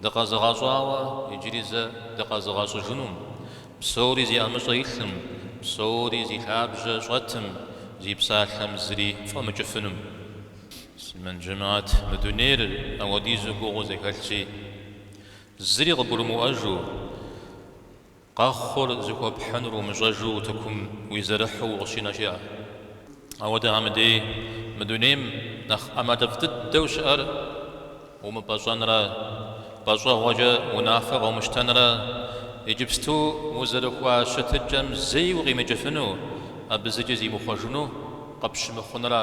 Дыкъэзыгъэщӏауэ иджыри зэ дыкъэзыгъэщӏыжынум, псори зи ӏэмыщӏэ илъым, псори зи лъабжьэ щӏэтым, зи псалъэм зыри щӏэмыкӏыфынум. Муслъымэн жэмэӏэт, мы дунейр ауэдизу гугъуу зэхэлъщи, зыри къыбгурымыӏуэжу. Къэхъур зыхуэпхьынур умыщӏэжу утыкум уизэрыхьу укъыщинэ щыӏэ. Ауэдэхэм дей, мы дунейм нэхъ ӏэмалыфӏ дыдэу щыӏэр умыпӏэщӏэнрэ, пӏэщӏэгъуэкӏэ унафэ къыумыщтэнрэ, иджыпсту узэрыхуа щытыкӏэм зэи укъимыкӏыфыну, абы зыкӏи зимыхъуэжыну къыпщымыхъунра.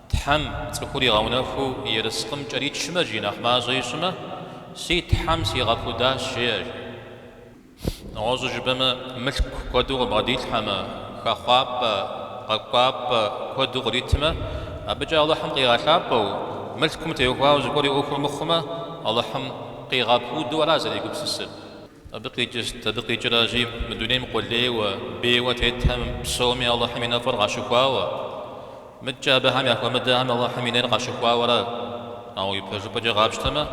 Тхьэм цӏыхур игъэунэхуу ерыскъым кӏэричмэ жи нэхъ мащӏэ ищӏмэ, си Тхьэм сигъэпудащ, жеӏэж. Нэгъуэщӏу жыпӏэмэ, мылъку куэду къыбгъэдилъхьэмэ, хэхъуапӏэ, къэкӏуапӏэ куэду къритмэ, абыкӏэ Алыхьым къигъэлъапӏэу, мылъкум теухуауэ зыгуэр и ӏуэхур мыхъумэ, Алыхьым къигъэпуду ара зэрегупсысыр? Абы къикӏырт, абы къикӏыра жи, мы дунейм къулейуэ, бейуэ тетхэм псоми Алыхьым и нэфӏыр къащыхуауэ. Мыдкӏэ абыхэм яхуэмыдэхэм Алыхьым и нейр къащыхуауэра? Ауэ ипэжыпӏэкӏэ къапщтэмэ,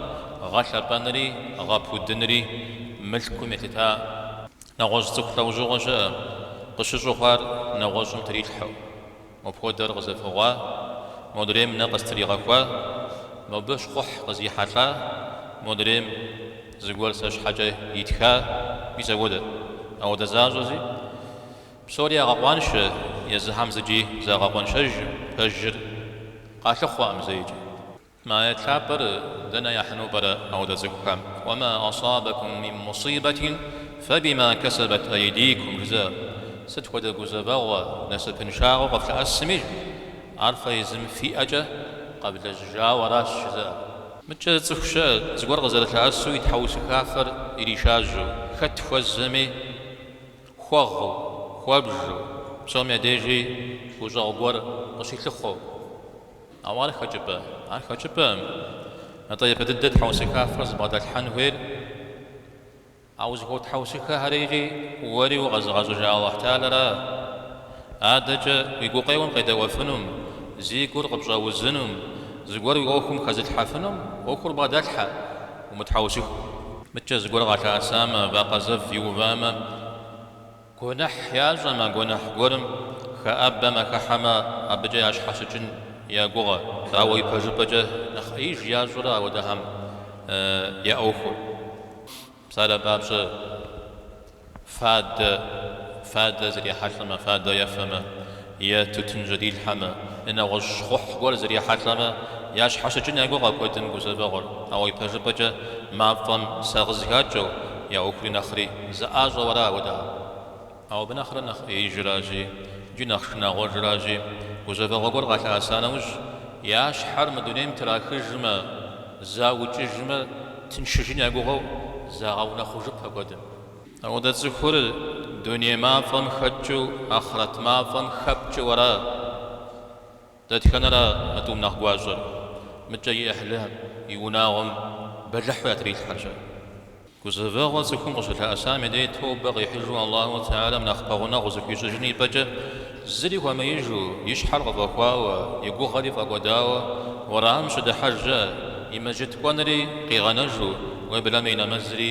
гъэлъэпӏэнри, гъэпудынри мылъкум елъыта нэгъуэщӏ цӏыху лӏэужьыгъуэ щыӏэ, къыщыщӏыхъуар нэгъуэщӏым трилъхьэу. Мопхуэдэр къызэфыгъуа, модрейм нэ къыстригъэхуа, мобы щхъухь къызихьэлӏа, модрейм зыгуэр сэ щхьэкӏэ итха, уи цӏэ хуэдэт. Ауэдэ защӏэзи, псори ягъэкъуаншэ, езыхэм зыкӏи загъэкъуэншэжым, пэжыр къалъыхъуэкъым зэикӏи. Мы аят лъапӏэр дэнэ яхьыну пӏэрэ апхуэдэ цӏыхухэм? Уэма асабэкум мин мусибэтин фэбима кэсэбэт айдикум жызыӏэр. Сыт хуэдэ гузэвэгъуэ, насыпыншагъэу къыфлъэӏэсми жи, ар фэ езым фи ӏэкӏэ къэвлэжьыжауэ аращ жызыӏэр. Мыдкӏэ цӏыху щыӏэ зыгуэр къызэрылъэӏэсу и тхьэусыхафэр иришажьэу, хэт хуэзэми хуэгъэу, хуэбжу, псом я дежи гущӏэгъу гуэр къыщилъыхъуэу. Ауэ ар хэкӏыпӏэ? Ар хэкӏыпӏэкъым. Атӏэ япэ дыдэ тхьэусыхафэр зыбгъэдэлъхьэн хуейр? А узыхуэтхьэусыхэхэри икӏи уэри укъэзыгъэщӏыжа Алыхь Теалэра? Адэкӏэ уи гукъеуэм къедэуэфынум, зи гур къыпщӏэузынум, зыгуэр уи ӏуэхум хэзылъхьэфынум ӏуэхур бгъэдэлъхьэ, умытхьэусыхэ. Мыдкӏэ зыгуэр къалъэӏэсамэ, вакъэ зэв иувамэ? Гуэныхь ящӏэмэ, гуэныхь гуэрым хэӏэбэмэ, хыхьэмэ, абыкӏэ ящхьэщыкӏын я гугъэ. Ауэ ипэжыпӏэкӏэ нэхъ ӏеиж ящӏэрэ ауэдэхэм я ӏуэхур? Псалъэм папщӏэ, фадэ, фадэ зрихьэлӏэмэ, фадэ ефэмэ. Е тутын жьэдилъхьэмэ, е нэгъуэщӏ щхъухь гуэр зрихьэлӏэмэ, ящхьэщыкӏын я гугъэ куэдым гузэвэгъуэр, ауэ ипэжыпӏэкӏэ, мафӏэм сагъыз хакӏэу, я ӏуэхури нэхъри зэӏащӏэу ара къудей. Ауэ абы нэхърэ нэхъ ӏеижыращи, икӏи нэхъ шынагъуэжыращи, гузэвэгъуэ гуэр къалъэӏэса нэужь, я щхьэр мы дунейм трахыжмэ, заукӏыжмэ, тыншыжын я гугъэу, загъэунэхъужыпэ куэдым. Ауэдэ цӏыхур дуней мафӏэм хэкӏыу ахърэт мафӏэм хэпкӏэу ара? Дэтхэнэра мы тӏум нэхъ гуащӏэр? Мыкӏэ и ӏыхьлы и унагъуэм бэлыхьу ятрилъхьэр-щэ. Гузэвэгъуэ цӏыхум къыщылъэӏэсам и дей тобэ къихьыжу Аллаху Теалэм нэхъ пэгъунэгъу зыхуищӏыжын ипӏэкӏэ, зыри хуэмеижу, и щхьэр къыфӏэхуауэ, и гугъэри фӏэкӏуэдауэ, уэрам щыдыхьэжьэ, и мэжыт кӏуэнри къигъэнэжу, уеблэмэ и нэмэзри,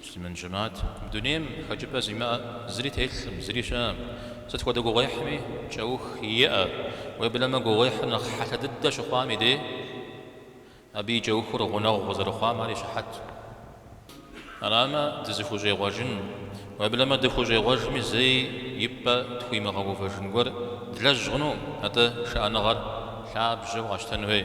Муслъымэн жэмыхьэт, мы дунейм хэкӏыпӏэ зимыӏэ зыри телъым, зыри щыӏэм. Сыт хуэдэ гугъуехьми кӏэух иӏэ. Уеблэмэ, гугъуехьыр нэхъ хьэлъэ дыдэ щыхъуам и дей, абы и кӏэухыр гъунэгъу къызэрыхъуам ар и щыхьэт. Арамэ, дызыхущӏегъуэжын, уеблэмэ дыхущӏегъуэжми зэи и пӏэ тхуимыгъэувэжын гуэр длэжь хъуну, атӏэ шыӏэныгъэр лъабжьэу къэщтэн хуей.